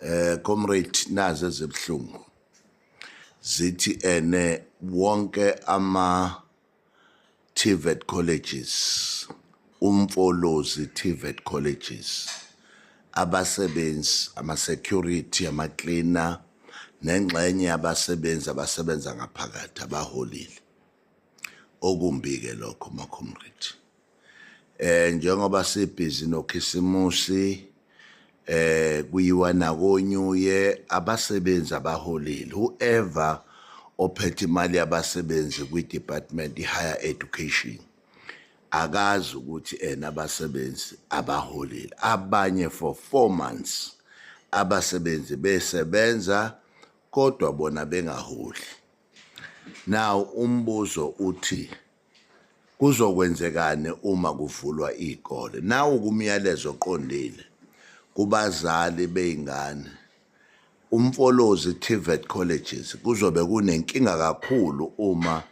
eh comrade naze zebhlungu zithi ene wonke ama TVET colleges umfolozi TVET colleges abasebenzi ama security ama cleaner nengxenye yabasebenzi abasebenza ngaphakathi abaholile okumbi ke lokho makhomrade eh njengoba sibhizi nokhisimusi eh kuyiwa nakonyuye abasebenzi abaholile whoever ophethe imali yabasebenzi kwi-department i-higher education akazi ukuthi ena abasebenzi abaholile abanye for four months abasebenzi besebenza kodwa bona bengaholi now umbuzo uthi Kuzokwenzekani uma kuvulwa iy'kole? Nawu kumyalezo oqondile kubazali bey'ngane. UMfolozi TVET Colleges kuzobe kunenkinga kakhulu uma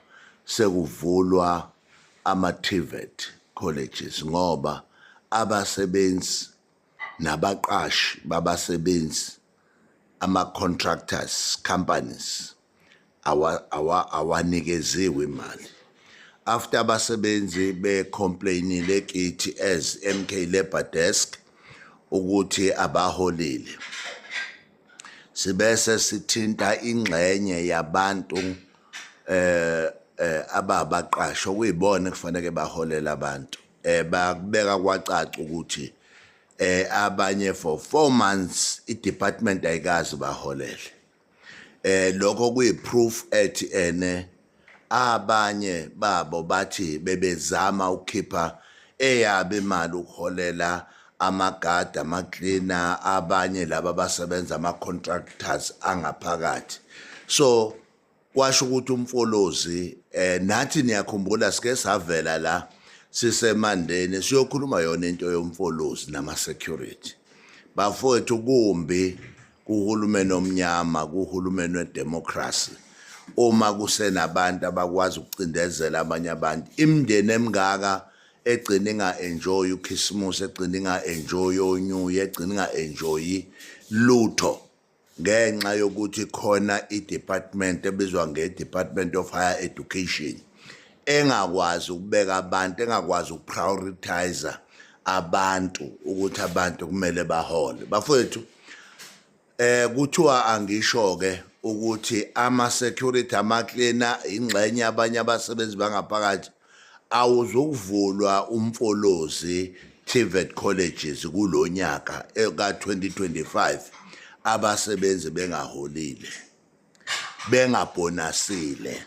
sekuvulwa ama-TVET Colleges ngoba abasebenzi nabaqashi babasebenzi ama-contractors companies awanikeziwe imali after abasebenzi becomplainile kithi as MK Labor Desk ukuthi abaholile sibese sithinta ingxenye yabantu eh, eh ababaqasho kuyibona kufanele baholela abantu eh bakubeka kwacaca ukuthi eh abanye for 4 months idepartment ayikazi baholele eh lokho kuyiproof ethi ene abanye babo bathi bebezama ukukhipha eyabe imali ukuholela amagada amaklina abanye laba basebenza ama contractors angaphakathi so kwasho ukuthi umfolozi eh nathi niyakhumbula sike savela la sisemandeni siyokhuluma yona into yomfolozi nama security bafowethu kumbi kuhulumeni omnyama kuhulumeni wedemocracy uma kusenabantu abakwazi ukucindezela abanye abantu imndeni emngaka egcina inga-enjoyi ukhisimusi egcina inga-enjoyi onyuyi egcina inga-enjoyi lutho ngenxa yokuthi khona i-department ebizwa nge-department of higher education engakwazi ukubeka abantu engakwazi ukuprioritizer abantu ukuthi abantu kumele bahole bafowethu eh kuthiwa angisho ke ukuthi ama security ama cleaner ingxenye abanye abasebenzi bangaphakathi Awuzukuvulwa uMfolozi TVET Colleges kulo nyaka eh, ka-2025 abasebenzi bengaholile, bengabhonasile.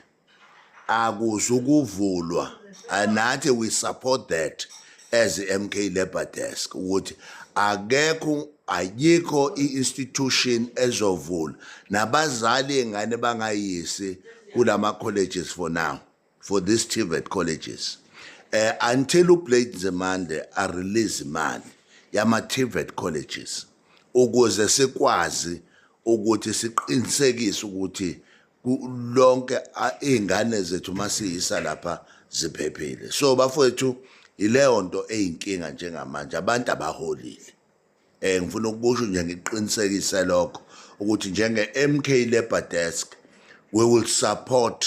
Akuzukuvulwa and nathi we support that as MK Labour Desk ukuthi akekho ayikho i-institution ezovula nabazali ingane bangayisi kulama colleges for now for these TVET colleges uh, until uBlade Nzimande arelease imali yama-TVET colleges ukuze sikwazi ukuthi siqinisekise ukuthi lonke iy'ngane zethu uma siyisa lapha ziphephile so bafowethu yileyo nto eyinkinga njengamanje abantu abaholile um ngifuna ukusho nje ngiqinisekise lokho ukuthi njenge-mk labour desk we will support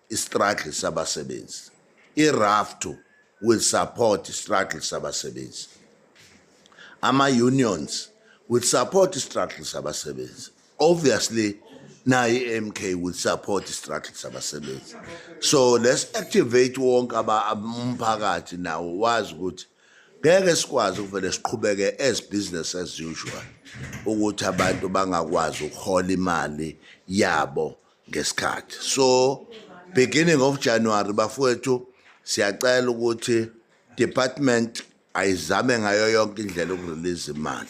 istruggle sabasebenzi iraftu will support istruggle sabasebenzi ama-unions will support istruggle sabasebenzi obviously naye i-mk will support istruggle sabasebenzi so let's activate wonke umphakathi nawo wazi ukuthi ngeke sikwazi ukuvele siqhubeke as business as usual ukuthi abantu bangakwazi ukuhola imali yabo ngesikhathi so beginning of January bafowethu siyacela ukuthi department ayizame ngayo yonke indlela ukurelease imali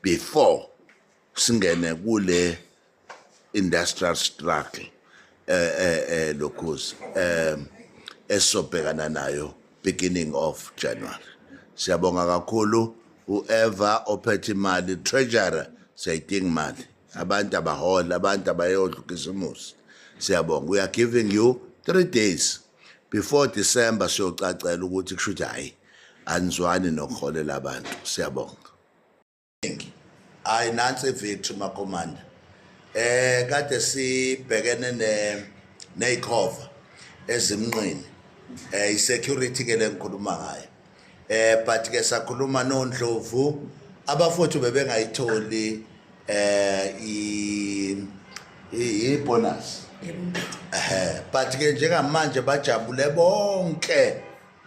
before singene kule industrial struggle eh eh, eh lokhozi eh esobhekana nayo beginning of January siyabonga kakhulu whoever ophethe imali treasurer sayidinga imali abantu abahola abantu abayodla ukhisimusi siyabonga we are giving you three days before december siyocacela ukuthi kusho ukuthi hhayi anizwani nokuholela abantu siyabonga hayi nansi ivictory makomanda eh kade sibhekene ne neyikhova ezimnqini eh isecurity ke lengikhuluma ngayo eh but ke sakhuluma nondlovu abafowethu bebengayitholi eh i i bonus eh but ke njengamanje bajabule bonke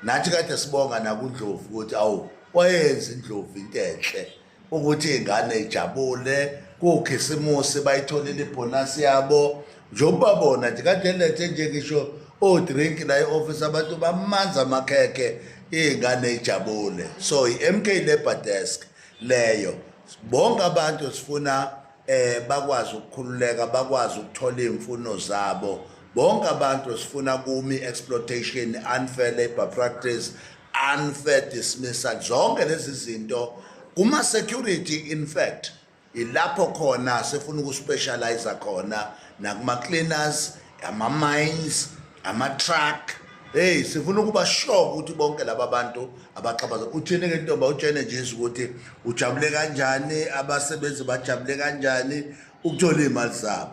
nathi kade sibonga nakundlovu ukuthi awu wayenza indlovu into enhle ukuthi iy'ngane ijabule kukhisimusi bayitholile ibhonasi yabo njengoba bona nje kade lethe nje ngisho o-drink la i-ofisi abantu bamanzi amakhekhe iy'ngane ijabule so i-m k labour desk leyo bonke abantu sifuna eh bakwazi ukukhululeka bakwazi ukuthola imfuno zabo bonke abantu sifuna kumi exploitation unfair labor practice unfair dismissal zonke lezi zinto kuma security in fact ilapho khona sifuna ukuspecialize khona nakuma cleaners ama-mines ama-truck heyi sifuna ukuba sure ukuthi bonke laba bantu abaxabaza uthini ke ntomba utshene jesu ukuthi ujabule kanjani abasebenzi bajabule kanjani ukuthola iy'mali zabo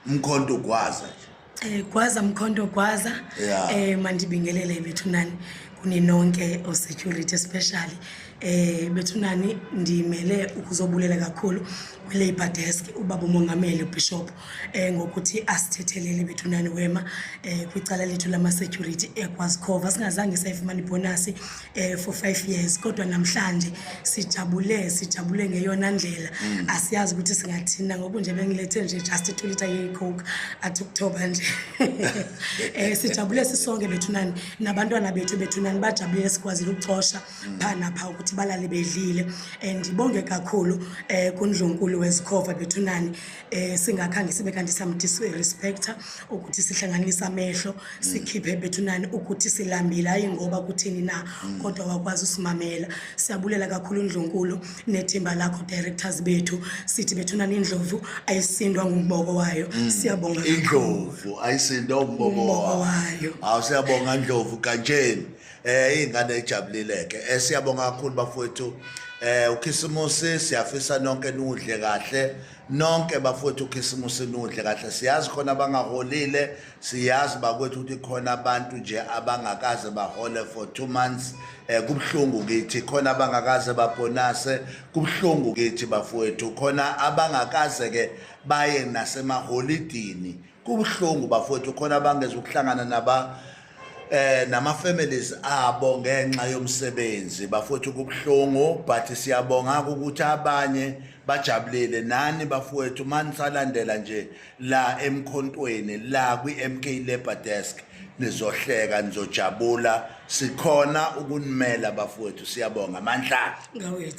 umkhonto ugwaza nje um gwaza mkhonto gwaza um mandibingelele bethu nani kuninonke osecurity especially eh bethunani ndimele ukuzobulela kakhulu kwi-labor desk ubaba umongameli ubishop eh ngokuthi asithethelele bethunani wema eh kwicala lethu lama-security ekwazikhova singazange sayifumana ibhonasi eh for five years kodwa namhlanje sijabule sijabule ngeyona ndlela mm. asiyazi ukuthi singathina ngoku nje bengilethe nje just itulita yeyicoke athi ukuthoba nje um sijabule sisonke bethunani nabantwana bethu bethunani bajabulile sikwazile ukucosha phaa napha ukuthi balale bedlile and ibonge kakhulu um eh, kundlunkulu wezikhova bethunani um eh, singakhange sibe kanti samdisa irespector ukuthi sihlanganise amehlo sikhiphe bethunani ukuthi silambile hhayi ngoba kuthini na kodwa wakwazi usimamela siyabulela kakhulu undlunkulu nethimba lakho directors bethu sithi bethuna nindlovu ayisindwa ngumboko wayo mm. siyabonga indlovu ayisindwa umboko wayo awu siyabonga ndlovu kantsheni eh ingane ejabulileke eh siyabonga kakhulu bafowethu eh ukhisimusi siyafisa nonke nudle kahle nonke bafowethu ukhisimusi nudle kahle siyazi khona abangaholile siyazi bakwethu ukuthi khona abantu nje abangakaze bahole for two months um kubuhlungu kithi khona abangakaze babhonase kubuhlungu kithi bafowethu khona abangakaze-ke baye nasemaholidini kubuhlungu bafowethu khona abangeza ukuhlangana naba eh nama families abo ngenxa yomsebenzi bafowethu kubuhlungu but siyabonga ukuthi abanye bajabulile nani bafowethu manisalandela nje la emkhontweni la kwi MK Labor Desk nizohleka nizojabula sikhona ukunimela bafowethu siyabonga mandla ngawethu